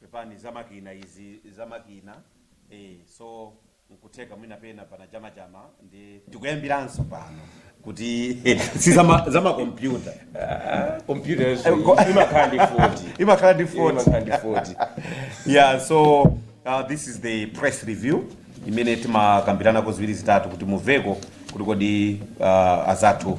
pepani za makina izi za makina eh, so nkutheka mwina pena pana chamachama ndi tikuyambiranso pano kuti si zama- zamakompyuta Computers imakhala ndi 40. imakhala ndi 40. Imakhala ndi 40. yeah so uh, this is the press review imene timakambiranako ziwiri zitatu kuti mumveko kuti kodi uh, azathu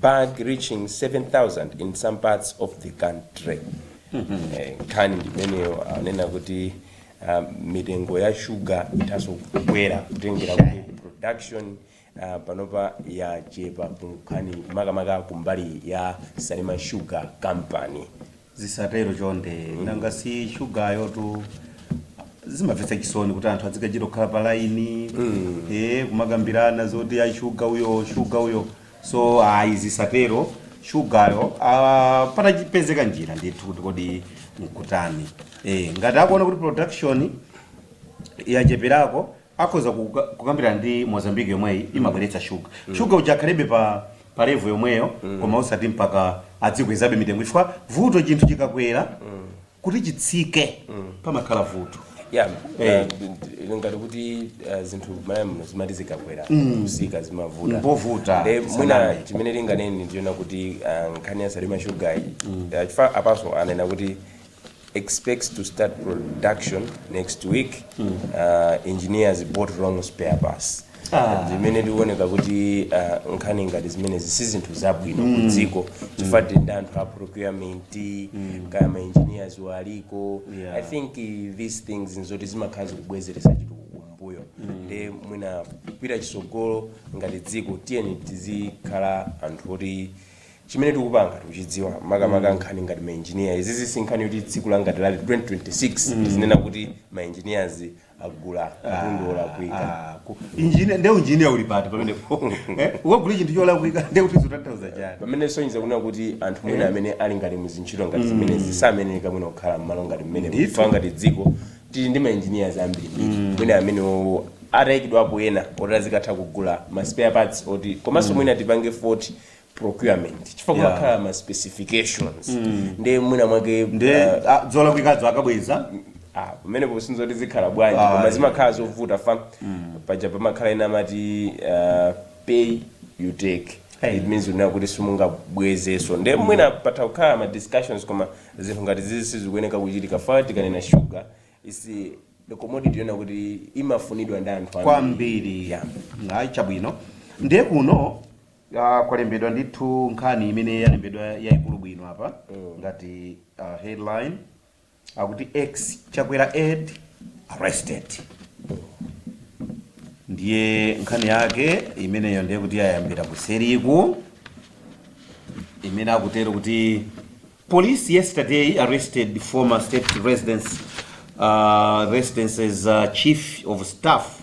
bag reaching 7000 in some parts of the country Eh, nkhani ndimeneyo anena kuti ah, mitengo ya shuga ithanso kukwera kutengera kuti production ah, panopa yachepa kunkhani makamaka kumbali ya salima sugar company Zisatero chonde nanga si shugayotu zimamvetsa chisoni kuti anthu adzikachita kukhala pa laini eh kumakambirana zoti ayi shuga uyo shuga uyo so ayi zisatero shugayo ah, patapezeka njira ndithu kuti kodi nkutani eh ngati akuona kuti production yacheperako akhoza kukambirana ndi Mozambique yomweyi imabweretsa sugar. Sugar uja akhalebe pa pa level yomweyo koma osati mpaka adzikwezabe mitengo chifukwa vuto chinthu chikakwera kuti chitsike pamakhala vuto. Yeah, Eh. uh, you know ngati kuti uh, zinthu Malawi muno zimati zikakwera kutsika zimavuta Mpovuta, Nde mwina saname. chimene ndinganene ndi chonena kuti uh, nkhani ya salima shugayi uh, chifukwa apanso anena kuti expects to start production next week uh, engineers bought wrong spare parts Ah. zimene zikuoneka kuti uh, nkhani ngati zimenezi si zinthu zabwino Mm. ku dziko chifukwa tili ndi anthu a procurement kaya ma engineers aliko Yeah. i think uh, these things nzoti zimakhala zikubwezeretsa chitukuko kumbuyo nde mwina kupita chitsogolo ngati dziko tiyeni tizikhala anthu oti chimene tikupanga tikuchidziwa makamaka nkhani ngati ma engineers izizi si nkhani yoti tsiku la ngati lero 2026 tizinena kuti ma engineers agula katundu olakwika injiniya nde unjiniya uli pati pamenepo Eh, ukagula chinthu cholakwika nde kuti zikutanthauza chani pamenepo zikusonyeza kunena kuti anthu mwina amene ali ngati muzintchito ngati zimenezi sayenera mwina kukhala mmalo ngati amenewo Ndithu. chifukwa ngati dziko tili ndi ma engineers ambirimbiri mwina amene o- atayikidwapo ena oti azikatha kugula ma spare parts oti komanso mwina tipange fault procurement chifukwa Yeah. kumakhala ma specifications nde mwina mwake nde uh, ah, zolakwikazo akabweza ah, pamene posintha kuti zikhala bwanji Ah, koma yeah. zimakhala zovuta fa paja pamakhala ena amati uh, pay you take Hey. it means kunena kuti simungabwezenso nde mwina patha kukhala ma discussions koma zinthu ngati zizi sizikuyeneka kuchitika fa tikanena sugar is the commodity yonena kuti imafunidwa ndi anthu ambiri. kwambiri Yeah. ayi chabwino ndiye kuno Ah, kwalembedwa ndithu nkhani imene yalembedwa yayikulu bwino apa ngati ah, headline akuti ex-Chakwera aide arrested ndiye nkhani yake imeneyo ndiye kuti yayambira kuseriku imene akutero kuti Police yesterday arrested former state residence, uh, residence's uh, chief of staff,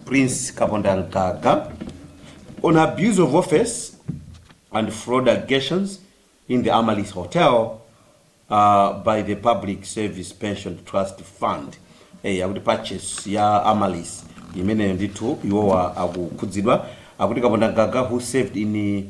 Prince Kaponda Nkaka, on abuse of office and fraud allegations in the Amalis Hotel uh, by the Public Service Pension Trust Fund. Eh, akuti purchase ya Amalis imeneyo ndithu iwowa akukhudzidwa akuti Kaponda Nkaka who served in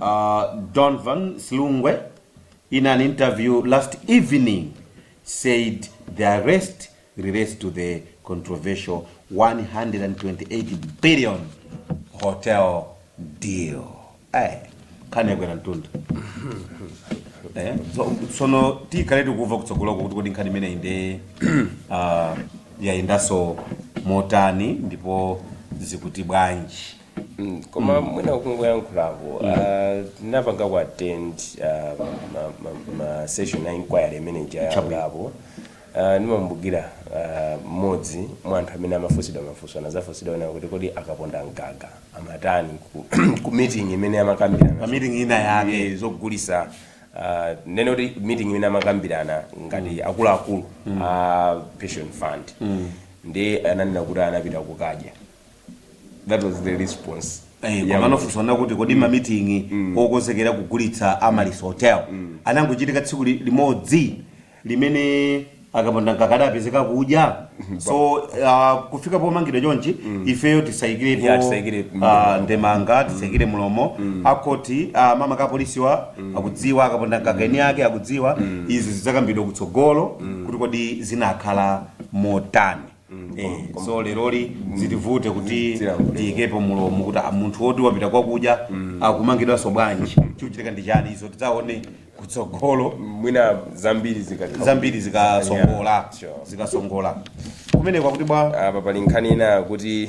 A Donvan Silungwe in an interview last evening said the arrest relates to the controversial 128 billion hotel deal. Ay, nkhani yakwera mtunda. Eh, so- sono tikhale tikuva kutsogoloko kuti kodi nkhani imeneyi ndi ah, yayendanso motani ndipo zikuti bwanji Mm, koma mwina kungoyankhulapo ah, tinapanga ku attend ah, ma- ma- ma session a inquiry imene ijayankhulapo ndimakumbukira mmodzi mwa anthu amene amafunsidwa mafunso anazafunsidwa nawo kuti kodi a Kapondamgaga amatani ku- ku meeting imene amakambirana Pa meeting ina yake. Eh, zogulitsa ah, nene kuti meeting imene amakambirana ngati akuluakulu a pension fund ndi ananena kuti anapita kukadya that was the response Eh, koma anafunsa kuti kodi mamitingi okonzekera kugulitsa Amaryllis Hotel anangochitika tsiku li- limodzi limene a Kapondamgaga adapezeka kudya so uh, kufika pomangidwa chonchi ifeyo Yeah, tisayikirepo tisayikire ah, ndemanga tisaikire mulomo akoti ah, makamaka apolisiwa akudziwa a Kapondamgaga eni ake akudziwa izi zidzakambidwa kutsogolo kuti kodi zinakhala motani Eh, so leroli zitivute kuti tiyikepo mulomo kuti ah, munthu woti wapita kwakudya akumangidwanso bwanji chikuchitika ndi chani izo tidzaone kutsogolo mwina zambiri zikati zambiri zikasongola Yeah, sure. zikasongola kumeneko akuti bwa apa pali nkhani ina kuti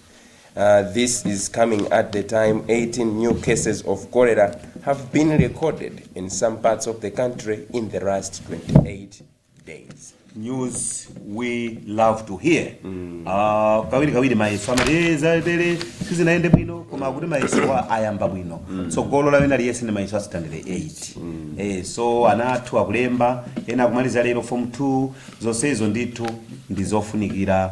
Uh, this is coming at the time 18 new cases of cholera have been recorded in some parts of the country in the last 28 days. news we love to hear Ah, kawirikawiri mayeso amati "Eh, zatere sizinayende bwino koma akuti mayesowa ayamba bwino tsogolo lawo ena aliyense ndi mayeso a sitandade 8 Eh, so ana athu akulemba ena akumaliza lero form 2 zonse izo ndithu ndi zofunikira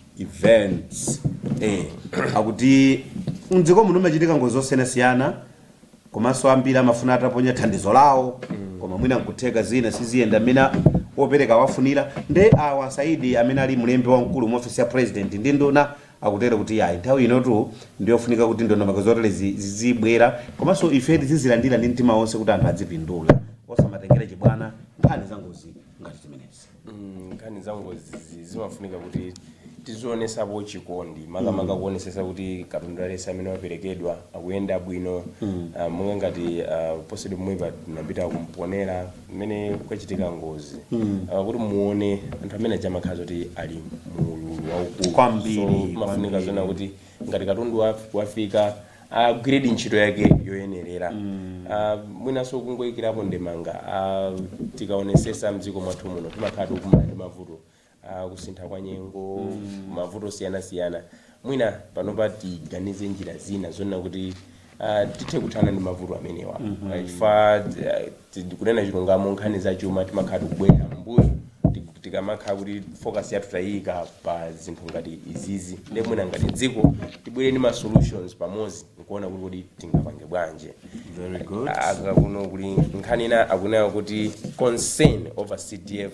events eh, akuti mdziko muno mumachitika ngozi zosiyanasiyana komanso ambiri amafuna ataponya thandizo lawo koma mwina nkutheka zina siziyenda mmene opereka wafunira nde awa a Saidi amene ali mlembi wamkulu mu ofisi ya president ndi nduna akutero kuti yayi nthawi inotu ndiyofunika kuti ndondomeko zotere zi- zizibwera komanso ife tizizilandira ndi mtima wonse kuti anthu adzipindula osamatengera chibwana nkhani za ngozi ngati zimenezi nkhani za ngozizi zimafunika kuti tizionesapo chikondi makamaka Mm. kuonesesa kuti katundu aliyense amene waperekedwa akuyenda bwino Mm. Ah, monga ngati ah, posachedwa pomwepa tinapita ku Mponela mmene kwachitika ngozi Mm. Ah, kuti muone anthu amene aja amakhala zoti ali mu ululu waukulu Kwambiri, So, mafunika kwambiri. zona kuti ngati katundu wa- wafika agwiredi ntchito yake yoyenerera Ah, mwinanso kungoyikirapo ndemanga Ah, tikaonesesa mdziko mwathu muno timakhala tikumana ndi mavuto Ah, kusintha kwa nyengo mavuto osiyanasiyana mwina panopa tiganize njira zina zonena kuti ah, tithe kuthana ndi mavuto amenewa Ah, chifukwa ah, Kunena chilungamo nkhani za chuma timakhala tikubwerera mmbuyo tikamakhala kuti focus yathu tayiika pa zinthu ngati izizi nde mwina ngati dziko tibwere ndi ma solutions pamodzi nkuona kuti kodi tingapange bwanji Very good. aka kuno kuli nkhani ina akunena kuti concern over cdf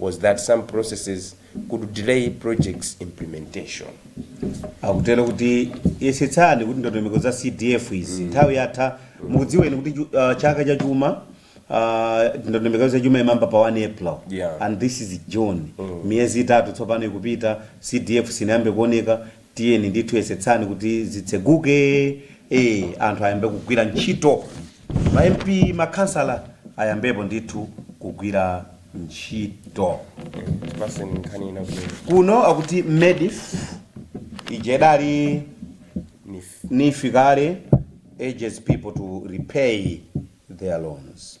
was that some processes could delay projects implementation. akutero kuti yesetsani kuti ndondomeko za cdf izi nthawi yatha mukudziwa inu kuti chu- ah, chaka cha chuma ah, ndondomeko za chuma imayamba pa 1 april Yeah. and this is june miyezi itatu tsopano ikupita cdf sinayambe kuoneka tiyeni ndithu yesetsani kuti zitseguke eh, anthu ayambe kugwira ntchito ma mp makhansala ayambepo ndithu kugwira ntchito basi nkhani ina kuti kuno akuti medf ija idali neef kale urges people to repay their loans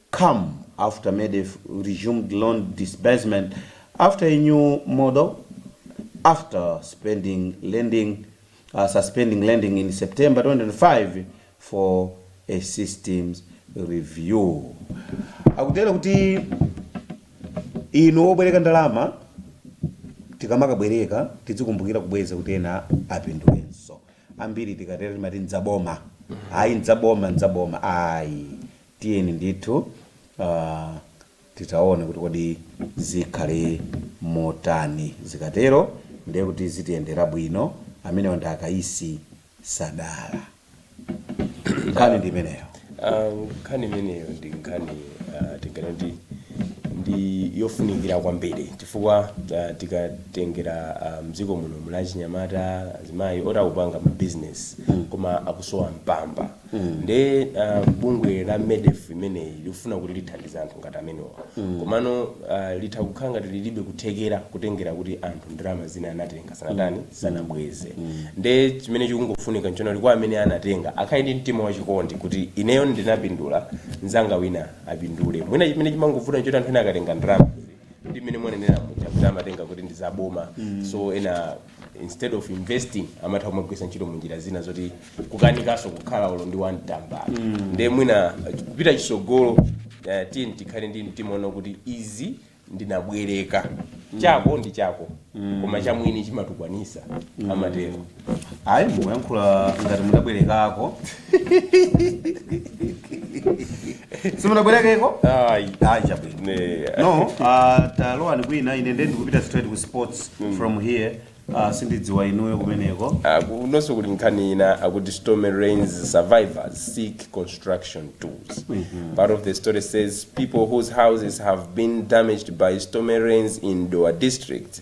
come after Medf resumed loan disbursement after a new model after spending lending uh, suspending lending in September 2025 for a systems review. Akutero kuti inu obwereka ndalama tikamakabwereka tidzikumbukira kubweza kuti ena apindulenso ambiri tikatero timati ndzaboma ayi ndzaboma ndzaboma ayi Tiyeni ndithu titaone kuti kodi zikhale motani. Zikatero ndiye kuti zitiyendera bwino. Amenewa ndi a Kayisi Sadala. Nkhani ndi imeneyo. Nkhani imeneyo ndi nkhani tinganene kuti ndi yofunikira kwambiri chifukwa tikatengera m'dziko muno muli achinyamata, azimayi oti akupanga mabizinesi koma akusowa mpamba. nde uh, bungwe la medef imeneyi likufuna kuti lithandize anthu ngati amenewa komano uh, litha kukhala ngati lilibe kuthekera kutengera kuti anthu ndalama zina anatenga sanatani sanabweze nde chimene chikungofunika nchonali choti kwa amene anatenga akhale ndi mtima wachikondi kuti ineyo ndinapindula nzanga wina apindule mwina chimene chimangovuta nchoti anthu ena akatenga ndalama ndi mmene mwanenera muja kuti amatenga kuti ndi zaboma so ena instead of investing amatha kumagwiritsa ntchito munjira zina zoti kukanikaso kukhala olo ndi one tambala nde mwina kupita chisogolo eh, tiyeni tikhale ndi mtima woona kuti izi ndinabwereka chako ndi chako koma chamwini chimatukwanisa amatero ayi mukuyankhula ngati mudabwerekako simunabwerekeko Ayi. ayi chabwino Ne. no uh, talowani kwina ine nde ndikupita straight ku sports from here uh, sindidziwa inuyo kumeneko Ah, kunonso kuli nkhani ina akuti stormy rains survivors seek construction tools part of the story says people whose houses have been damaged by stormy rains in Dowa district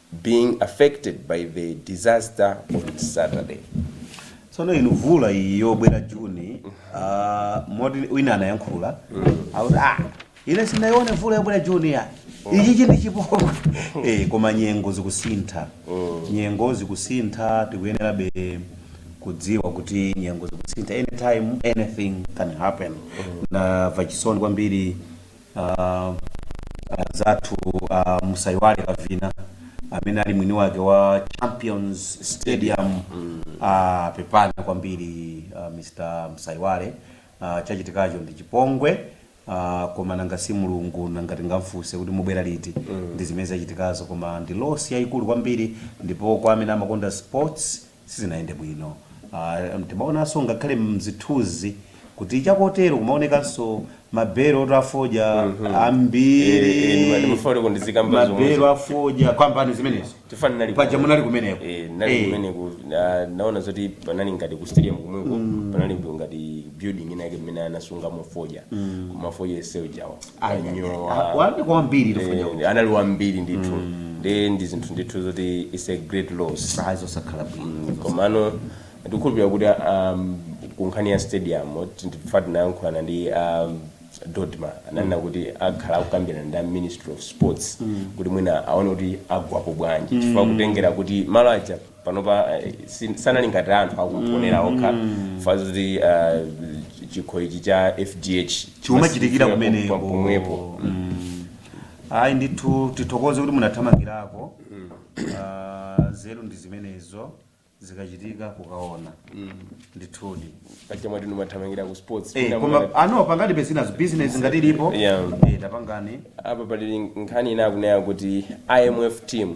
being affected by the disaster on Saturday. tsono inu vula iyi yobwera juni ah, moti wina anayankhula akuti ah ine sinayione vula yobwera juni ya ichi chi ndi chipongwe eh, koma nyengo zikusintha nyengo zikusintha tikuyenerabe kudziwa kuti nyengo zikusintha anytime anything can happen ndamva chisoni kwambiri ah, anzathu a musaiwale kavina amene ali mwini wake wa champions stadium ah, pepani kwambiri ah, mr msaiwale ah, chachitikacho ndi chipongwe ah, koma nanga si mulungu nanga tingamfunse kuti mubwera liti ndi zimene zachitikazo koma ndi loss yayikulu kwambiri ndipo kwa amene amakonda sports sizinayende bwino. Am, timaonanso ngakhale m'zithunzi kuti chakotero kumaonekanso mabelo oti a fodya ambiri, Eh, eh, ndima- ndimafuna kuti kundizikamba zomwe. mabelo a fodya kambani zimenezo Chifukwa ndinali paja konko. munali kumeneko Eh, ndinali Eh. kumeneko, na- naona zoti panali ngati ku stadium kumweko panali ngati building ina yake mmene anasungamo fodya koma fodya yenseyo uja wanyowa wambiri kwambiri fodya Eh, anali wambiri ndithu ndi ndi zinthu ndithu zoti is a great loss side zosakhala bwino komano ndikukhulupirira kuti um, ku nkhani ya stadium chifukwa tinayankhulana ndi um, dodma ananena kuti akhala akukambirana ndi a ministry of sports kuti mwina aone kuti agwirapo bwanji chifukwa kutengera kuti malo aja panopa si- sanali ngati anthu akuponera okha fazi kuti ah, chikho ichi cha fdh Chimachitikira kumeneko. pomwepo ayi ndithu tithokoze kuti munathamangirako Ah, nzeru ndi zimenezo zikachitika kukaona ndithudi pachita mwati ndimathamangira ku sports Eh, Mwina koma mwana- ano pangati pesinazo business ngati ilipo Yeah. Eh, tapangani apa pali nkhani ina akunena kuti imf team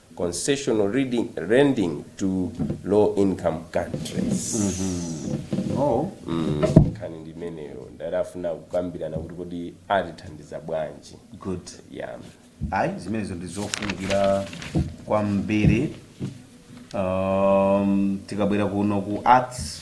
concessional reading, lending to low income countries Oh. nkhani ndi imeneyo ndiye akufuna kukambirana kuti kodi atithandiza bwanji Good. yeah. Ayi, zimenezo ndi zofunikira kwambiri. Um, tikabwera kuno ku arts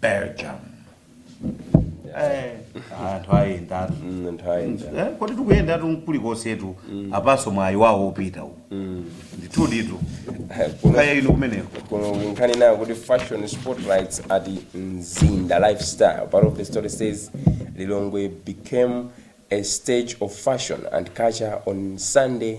Belgium. Eh, anthu ayendatu Eh, kodi tikuyendatu mkulikonsetu apanso mwayi wawo wopita uwu ndithu ndithu kaya ino kumeneko nkhani nayo akuti fashion spotlights at mzinda lifestyle part of the story says lilongwe became a stage of fashion and culture on sunday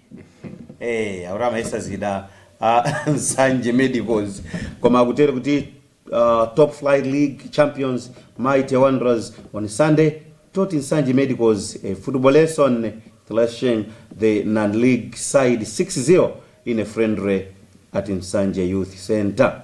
Eee akuti amayesa zida a Nsanje Medicals koma akutero kuti uh, Top Flight League champions Mighty Wanderers on Sunday taught Nsanje Medicals a football lesson thrashing the non-league side 6-0 in a friendly at Nsanje Youth Center.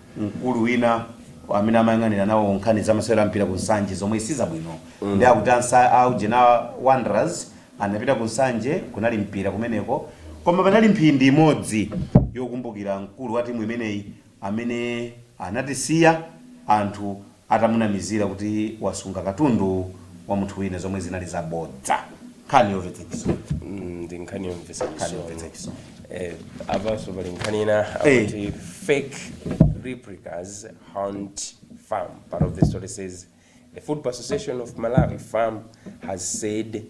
mkulu wina amene amayang'anira nawo nkhani za masewero a mpira ku Nsanje zomwe sizabwino mm. ndi akuti anza aujeni a Wanderers anapita ku Nsanje kunali mpira kumeneko koma panali mphindi imodzi yokumbukira mkulu wa timu imeneyi amene anatisiya anthu atamunamizira kuti wasunga katundu wa munthu wina zomwe zinali zabodza. Nkhani yomvetsa chisoni. Mm, ndi nkhani yomvetsa Nkhani chisoni yomvetsa chisoni. eh, apanso pali nkhani ina Eh. akuti fake replicas haunt fam part of the story says the football association of malawi fam has said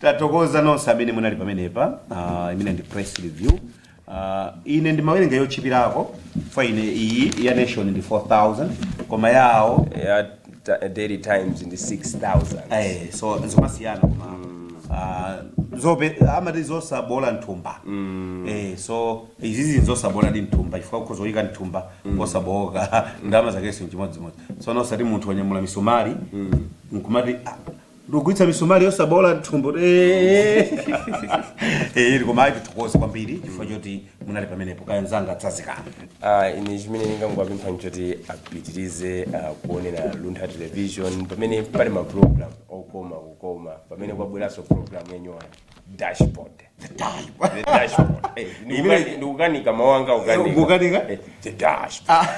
Tathokoza nonse amene munali pamenepa. Uh, imeneyi ndi press review. Uh, ine ndimawerenga yotchipirako kwa ine iyi ya nation ndi 4000 koma yawo ya ta- daily times ndi 6000 eh, so zimasiyana koma uh, zobe amati zosaboola mthumba eh, so izizi nzosabooladi mthumba chifukwa ukhoza kuyika mthumba osabooka ndalama zakenso nchimodzimodzi so nosati munthu wanyamula misomali nkumati ah, ndikugwiritsa misomali yosaboola mthumba Eh, koma ayi tithokoze kwambiri chifukwa choti munali pamenepo kaya mzanga tsazikana Ah, ine chimene ndingangowapempha nchoti apitirize ah, kuonera luntha television pamene pali maprogram okoma kukoma pamene kwabweranso program yanyowani dashboard the dashboard the dashboard eh ndikukani- ndikukanika mawanga ukanika Ukukanika? Eh, the dashboard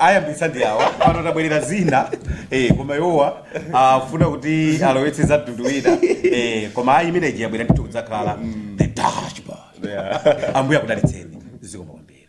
ayambitsa ndi awa pano tabwerera zina eh, koma iwowa afuna kuti alowetse za mtundu wina eh, koma ayi imeneyi yabwera ndithu kudzakhala the dashboard ambuye akudalitseni zikomo kwambiri